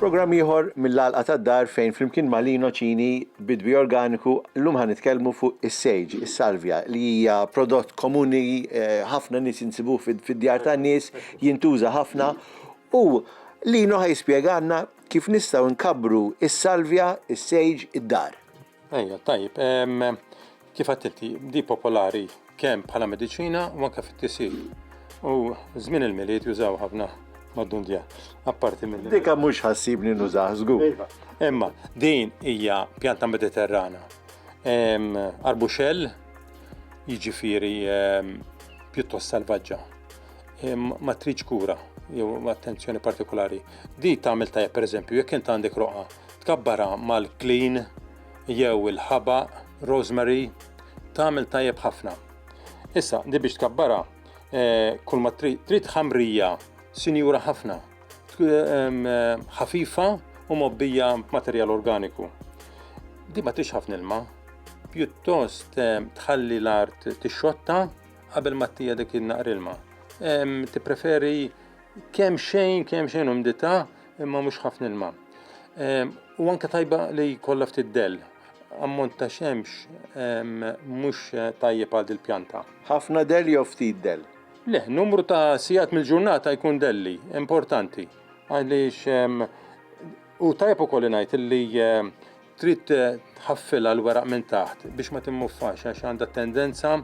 Programm ieħor mill-Għalqa tad-Dar fejn flimkien ma' Lino Cini, bidwi organiku, llum ħa nitkellmu fuq is-sage, is-salvia, li hija prodott komuni ħafna nies insibuh fid-djar tan-nies, jintuża ħafna U Lino ħa jispjegalna kif nistgħu nkabbru s-salvja, is-sage, id-dar. Ejja, tajjeb. Kif għedt inti, di popolari kemm bħala mediċina u anke fit-tisjir. U żmien il-Milied jużaw ħafna mad-dundja. Apparti minn. Dika mhux ħassibni nużah żgur. Iva. Imma din hija pjanta Mediterrana. Arbuxell, jiġifieri pjuttost salvaġġa. ma tridx kura jew attenzjoni partikolari. Di tagħmel tajjeb pereżempju jekk int għandek roqa, tkabbara mal-klin jew il-ħaba, rosemary, tagħmel tajjeb ħafna. Issa, di biex tkabbara eh, kull ma trid trid ħamrija sinjura ħafna, eh, ħafifa u mobbija b'materjal organiku. Di ma tix ħafna ilma, pjuttost eh, tħalli l-art tixxotta Qabel ma tija dik il-naqr ilma. Tippreferi kemm xejn, kemm xejn umdita, imma mhux ħafna ilma. U anke tajba li jkollha ftit dell. Ammont ta' xemx mhux tajjeb għal dil-pjanta. Ħafna dell jew ftit dell? Le, numru ta' sigħat mill-ġurnata jkun delli, importanti. Għaliex u tajjeb ukoll ngħid li Trid tħaffilha l-weraq minn taħt biex ma timmuffax għax għandha t-tendenza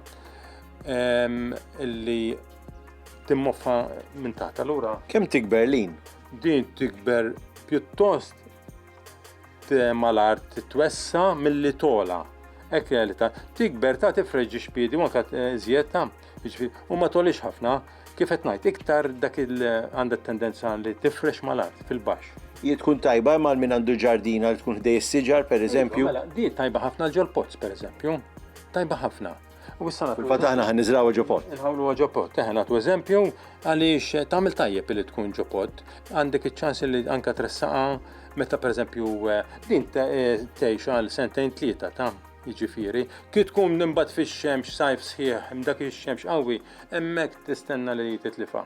ehm, li timmoffa minn taħt. Allura Kemm tikber lin? din tikber pjuttost mal-art twessa milli tola. Ekk li għalita. Tikber ta' tifreġġi xpiedi, ma' kat eh, zjed ta' Jiġifieri, u ma tolix ħafna, kif qed ngħid, iktar dak il għandha tendenza li tifrex mal-art fil-baxx. Hi tkun tajba imma min għandu ġardina li tkun ħdej is-siġar pereżempju. Mela, di tajba ħafna ġol pozz pereżempju. Tajba ħafna. U issa nagħtu. Fil-fatt aħna ħan niżrawha ġo pot. Inħawlu ġo pot, eħe nagħtu eżempju għaliex tagħmel tajjeb li tkun ġo pot, għandek iċ-ċans li anka tressaqa meta pereżempju eh, din eh, tgħix għal sentejn tlieta ta' Jiġifieri, kif tkun imbagħad fix-xemx sajf sħiħ, dak ix-xemx qawwi, hemmhekk tistenna li titlifha.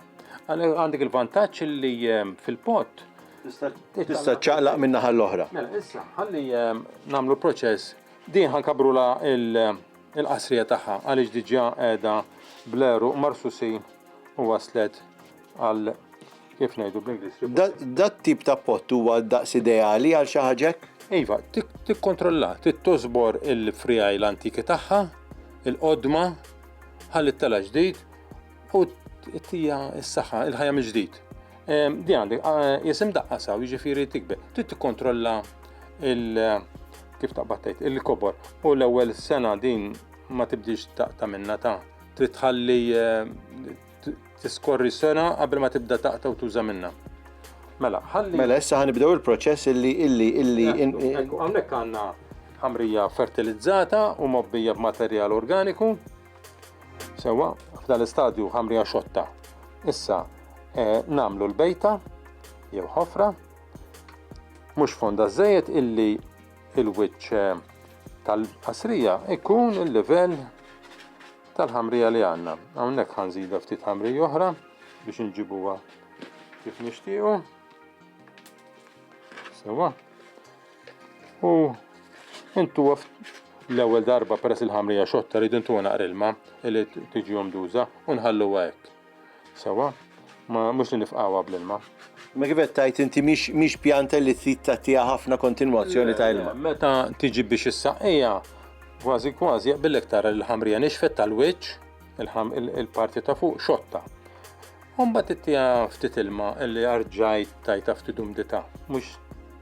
Għandek il-vantaġġ li ehm, fil-pott tista' ċaqlaq minn naħa l-oħra. Mela, issa, ħalli ehm, nagħmlu proċess, din ħankabrula il-qasrija tagħha għaliex diġà qiegħda bleru marsusin u waslet Għal kif ngħidu bl-Ingliż. Dat tip ta' pott huwa daqs ideali għal xi ħaġek? Iva, tikkontrolla, tittożbor il-frijaj l-antiki tagħha, il-qodma, ħalli t-tela ġdid u t-tija s-saħħa, il-ħajja mill-ġdid. Ehm, di għandek, ah, jisim daqqa saw, jiġifieri tikbe, trid tikkontrolla il- kif taqbattajt il-kobor u l-ewwel sena din ma tibdix taqta minna ta' trid tħalli eh, tiskorri sena qabel ma tibda taqta' u tuża minna. Mela, ħalli. Mela, issa ħanibdew il-proċess illi illi illi. Hawnhekk għandna ħamrija fertilizzata u mobbija b'materjal organiku. Sewa, f'dan l-istadju ħamrija xotta. Issa, eh, namlu l-bejta, jew ħofra, mhux fonda żejjed illi il-wiċċ eh, tal-qasrija ikun il-livell tal-ħamrija li għandna. Hawnhekk ħanżidha ftit ħamrija oħra biex inġibuha kif nixtiequ. Sewa. U intu l-ewwel darba peress il-ħamrija xotta rridu intu naqrilma li tiġi omduża u nħalluha hekk. Sewwa, ma mhux li nifqgħuha bl-ilma. Ma kif qed tgħid inti mhix pjanta li trid tagħtiha ħafna kontinwazzjoni ta' ilma. Meta tiġi biex issaqqiha, kważi kważi jaqbillek tara li l-ħamrija nixfet tal-wiċċ, il-parti ta' fuq xotta. Umbat ittiha ftit ilma illi arġajt tajta ftit umdita, mux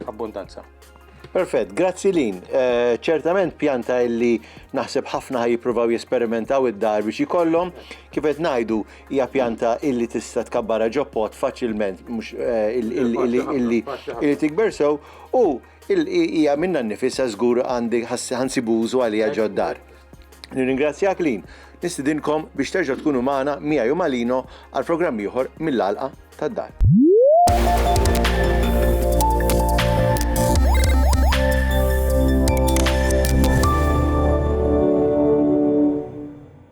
abbundanza. Perfett, grazzi lin. Eh, ċertament pjanta illi naħseb ħafna ħaj jippruvaw jesperimentaw id-dar biex jkollhom, kif qed ngħidu hija pjanta illi tista' tkabbara ġoppot faċilment mhux eh, illi tikber sew u hija minna nnifisha żgur għandi ħansibu użu għalija ġoddar. Nirringrazzjak lin nistidinkom biex terġgħu tkunu magħna miegħi u Malino għal programm ieħor mill-għalqa tad-dar.